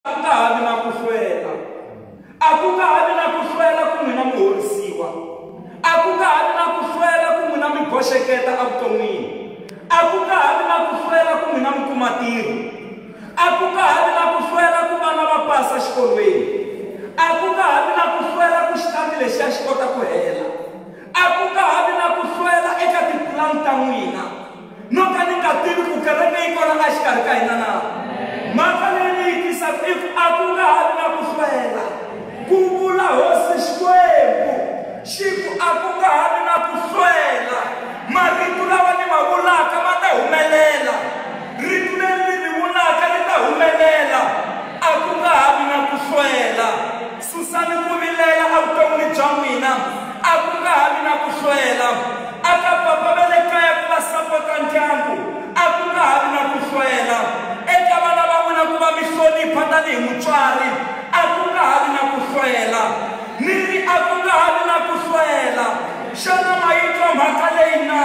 a ku nga ha vi na ku hlwela a ku nga ha vi na ku hlwela ku n'wina mi horisiwa a ku nga ha vi na ku hlwela ku n'wina mi boxeketa evuton'wini a ku nga ha vi na ku hlwela ku n'wina mi kuma tiro a ku nga ha vi na ku hlwela ku vana va pasa xikolweni a ku nga ha vi na ku hlwela ku xitambi lexiya xi kota ku hela a ku nga ha vi na ku hlwela eka tipulani ta n'wina no ka ni nga tivi ku kereke yi kona exikarhi ka hina na mhaka leyi ni yi tisaka i ku a ku nga ha vi na ku hlwela ku vula hosi xikwembu xi ku a ku nga ha vi na ku hlwela marito lawa ni ma vulaka ma ta humelela rito leri ni ri vulaka ri ta humelela a ku nga ha vi na ku hlwela Susani ku vilela evuton'wini bya n'wina. A ku nga ha vi na ku hlwela. A ka papa va le kaya ku va sapota ndyangu. A ku nga ha vi na ku hlwela. Eka vana va n'wina ku va mi hlonipha tanihi mutswari. A ku nga ha vi na ku hlwela. Ni ri a ku nga ha vi na ku hlwela. Xana ma yi twa mhaka leyi na?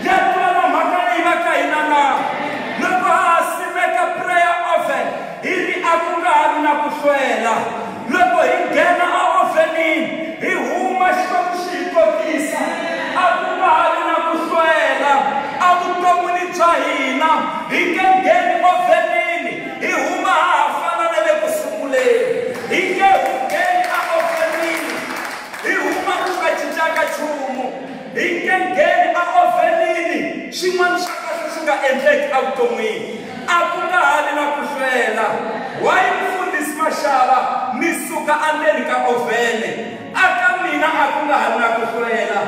Ya twala mhaka leyi va ka hina na? Loko ha ha simeka prayer oven, Hi ri a ku nga ha ri na ku hlwela, loko hi nghena eovenini, hi huma Xikwembu xi hi kotisa. A ku nga ha ri na ku hlwela evuton'wini bya hina, hi nge ngheni ovenini hi huma ha ha fana na le ku sunguleni. Hi nge hu ngheni eovenini hi huma ku nga cincanga nchumu. Hi nge ngheni eovenini xin'wana xa kahle xi nga endleki evuton'wini. A ku nga ha vi na ku hlwela, Why Mufundhisi Mashava, mi suka andzeni ka ovhene. A ka mina a ku nga ha vi na ku hlwela,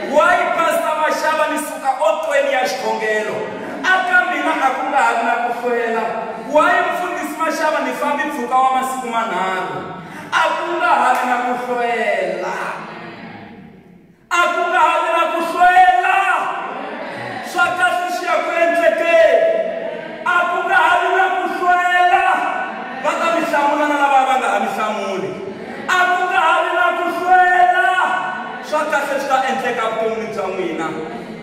Why Pastor Mashava, mi suka otweni ya xikhongelo. A ka mina a ku nga ha vi na ku hlwela, Why Mufundhisi Mashava, ni fambi mpfhuka wa masiku manharhu. A ku nga ha vi na ku hlwela. A ku nga ha vi na ku hlwela. Swa kahle swi ya ku endlekeni. A ku nga ha vi na ku hlwela. Va ta mi hlamula na lava va nga ha mi hlamuli. A ku nga ha vi na ku hlwela. Swa kahle swi ta endleka vuton'wini bya n'wina.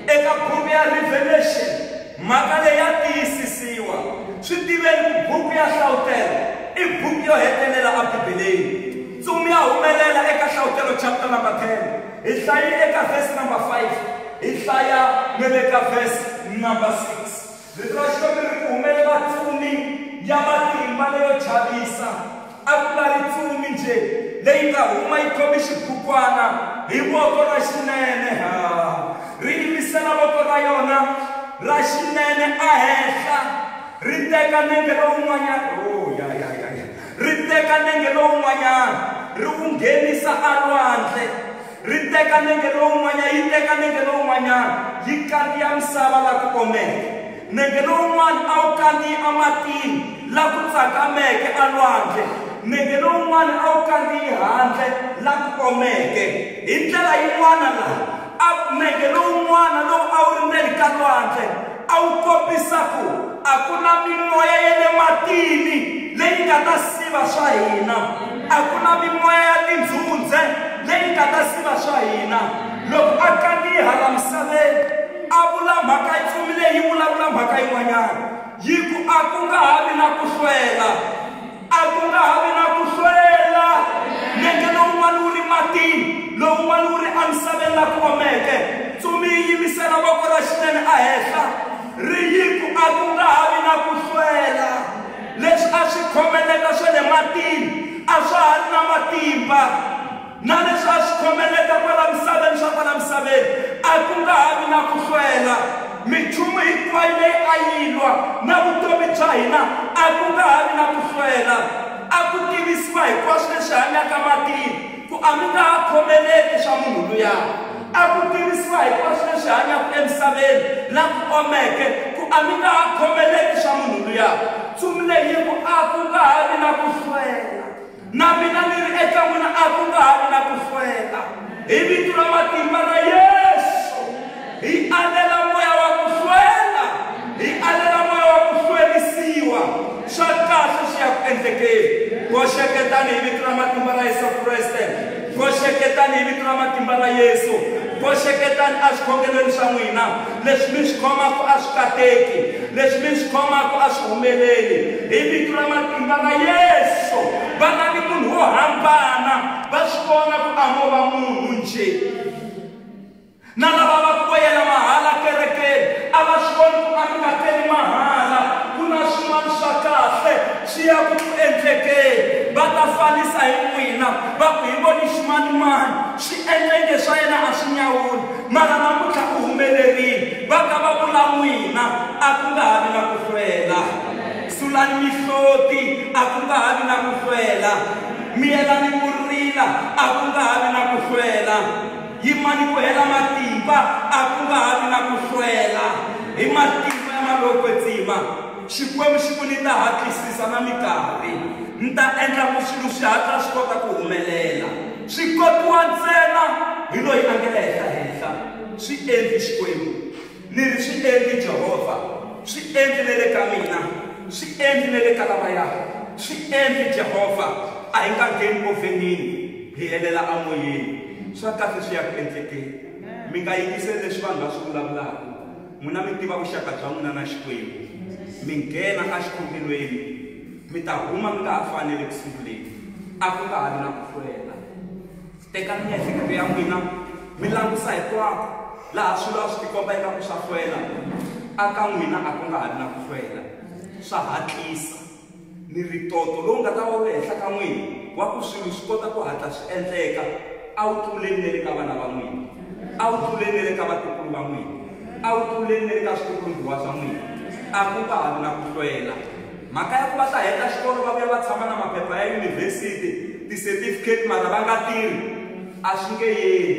Eka buku ya Revelation, mhaka leyi ya tiyisisiwa. Swi tiveni ku buku ya Hlawutela i buku yo hetelela eBibeleni. Ntsumi ya humelela eka Hlavutelo chapter number 10. Hi hlayile eka verse number 5, hi hlaya ne le ka verse number 6. Rito ra Xikwembu ri ri ku humelela ntsumi ya matimba leyo chavisa. A ku nga ri ntsumi nje leyi nga huma yi khome xibukwana hi voko ra xinene, ha, ri yimisela voko ra yona ra xinene a henhla, ri teka nenge lowun'wanyana. Oh, ya, ya, ya, ya. Ri teka nenge lowun'wanyana, ri wu nghenisa alwandle. Ri teka nenge lowun'wanyana, yi teka nenge lowun'wanyana, yi kandziya misava la ku omeke. Nenge lowun'wana a wu kandziyi amatini la ku tsakameke alwandle, nenge lowun'wana a wu kandziyi handle la ku omeke. Hi ndlela yin'wana laha A Nenge lowun'wana lowu a wu ri ndzeni ka lwandle a wu kombisa ku a ku na mimoya ya le matini leyi nga ta siva swa hina. A ku na mimoya ya tindzhundze leyi nga ta siva swa hina. Loko a kandziha laha misaveni, a vula mhaka yi pfumile yi vulavula mhaka yin'wanyana, yi ku, A ku nga ha vi na ku hlwela. A ku nga ha vi na ku hlwela. Nenge lowun'wana wu ri matini, lowun'wana wu ri emisaveni la ku omeke. Ntsumi yi yimisela voko ra xinene ehenhla, ri yi ku, A ku nga ha vi na ku hlwela. Leswi a swi khomeleta swa le matini a swa ha ri na matimba. Na leswi a swi khomeleta kwala misaveni swa kwala misaveni, a ku nga ha vi na ku hlwela. Minchumu hinkwayo leyi a yi lwa na vutomi bya hina, a ku nga ha vi na ku hlwela. A ku tivisiwa hinkwaswo leswi hanyaka matini ku, A mi nga ha khomeleti swa munhu luya. A ku tivisiwa hinkwaswo leswi hanyaka emisaveni la ku omeke ku, A mi nga ha khomeleti swa munhu luya. Ntsumi leyi yi ku, A ku nga ha vi na ku hlwela. Na mina ni ri eka n'wina a ku nga ha ri na ku hlwela. Hi vito ra matimba ra Yesu, hi alela moya wa ku hlwela, hi alela moya wa ku hlwerisiwa. Swa kahle swi ya ku endlekeni. Boxeketani hi vito ra matimba ra Yesu Kreste. Boxeketani hi vito ra matimba ra Yesu. Boxeketani eswikhokelweni swa n'wina. Leswi mi swi khomaka a swi kateki, leswi mi swi khomaka a swi humeleli. Hi vito ra matimba ra Yesu, vana ni munhu wo hambana va swi vona ku a mo va munhu njhe. Na lava va ku yela mahala kerekeni a va swi voni ku a mi nga teli mahala, ku na swin'wana swa kahle swi ya ku ku endlekeni. Va ta fanisa hi n'wina va ku hi voni ximanimani swi endleke swa yena a swi nyawuli. Mara namuntlha u humelerile. Va ta va vula n'wina, A ku nga ha vi na ku hlwela. Sulani mihloti, a ku nga ha vi na ku hlwela. Miyelani ku rila, a ku nga ha vi na ku hlwela. Yimani ku hela matimba, a ku nga ha vi na ku hlwela. Hi matimba ya Malokwe-Tsima, Xikwembu xi ku, Ni ta hatlisisa na mikarhi. Ni ta endla ku swilo swi hatla swi kota ku humelela. Swi kotiwa ntsena hi loyi a nge ehenhla-henhla, swi endli Xikwembu. Ni ri, Swi endli Jehovha. Swi endli ne le ka mina. Swi endli ne le ka lavaya. Swi endli Jehovha. A hi nga ngheni ovhenini, hi helela amoyeni. Swa kahle swi ya ku endlekeni. Mi nga yingiseli leswi vanhu va swi vulavulaka. N'wina mi tiva vuxaka bya n'wina na Xikwembu. Mi nghena exikhokelweni. Mi ta huma mi nga ha fani ni le ku sunguleni. A ku nga ha vi na ku hlwela. Tekani miehleketo ya n'wina mi langusa hinkwako laha swilo a swi tikomba ingaku swa hlwela, a ka n'wina a ku nga ha vi na ku hlwela. Swa hatlisa. Ni ri ntoto lowu nga ta va wu ri henhla ka n'wina wa ku swilo swi kota ku hatla swi endleka a wu tluleli na le ka vana va n'wina, a wu tluleli na le ka vatukulu va n'wina, a wu tluleli na le ka switukulu-mbiwa swa n'wina. A ku nga ha vi na ku hlwela. Mhaka ya ku va ta heta xikolo va vuya va tshama na maphepha ya yunivhesiti, ti-certificate mara va nga tirhi, a swi nge yeli.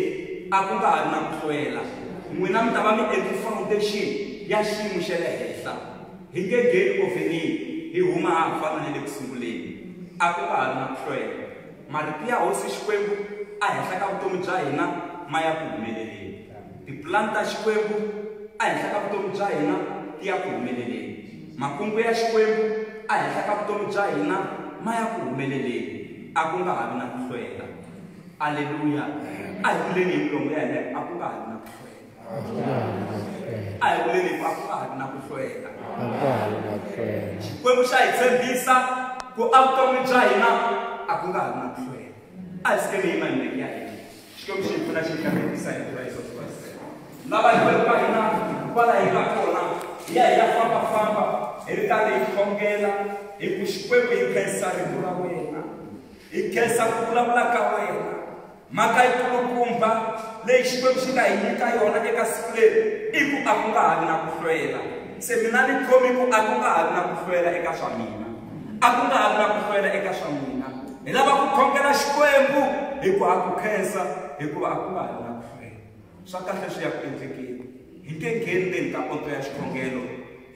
A ku nga ha ri na ku hlwela. N'wina mi ta va mi endle foundation ya xiyimo xa le henhla. Hi nge ngheni ovhenini hi huma ha ha fana na le ku sunguleni. A ku nga ha ri na ku hlwela. Marito ya Hosi Xikwembu a henhla ka vutomi bya hina ma ya ku humeleleni. Tipulani ta Xikwembu a henhla ka vutomi bya hina ti ya ku humeleleni. Makungu ya Xikwembu a henhla ka vutomi bya hina ma ya ku humeleleni. A ku nga ha vi na ku hlwela. Aleluya! A hi vuleni hi milomo ya hina, A ku nga ha vi na ku hlwela. a hi vuleni hinkwaswo a ha ri na ku hlwela xikwembu xa hi tshembisa ku a vutomi bya hina a ku nga ha ri na ku hlwela a hi sikeni hi manene ya hina xikwembu xi hi pfuna xi hi kambekisa hi tiva yesus kreste lava hi veri ka hina kwala hi nga kona hi ya hi ya fambafamba hi ri karhi hi khongela hi ku xikwembu hi khensa rito ra wena hi khensa ku vulavula ka wena mhaka yi kulukumba leyi xikwembu xi nga hi nyika yona eka siku leri i ku a ku nga ha vi na ku hlwela se mina ni khomi ku a ku nga ha vi na ku hlwela eka swa mina a ku nga ha vi na ku hlwela eka swa mina hi lava ku khongela xikwembu hi ku ha ku khensa hikuva a ku nga ha vi na ku hlwela swa kahle swi ya ku endlekeni hi nge ngheni le ka poto ya xikhongelo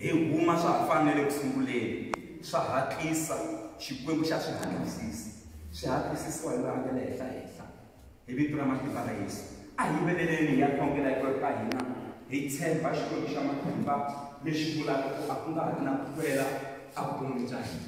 hi huma swa ha fanele ku sunguleni swa hatlisa xikwembu xa swi hatlisisa swi hatlisisiwa hi loyi a nga le henhla henhla hi vito ra matimba ra yesu a hi veleleni hi ya khongela hi kweka hina hi tshemba xikwembu xa matimba lexi vulaka ku a ku nga ha ri na ku hlwela a vuton'wini bya hina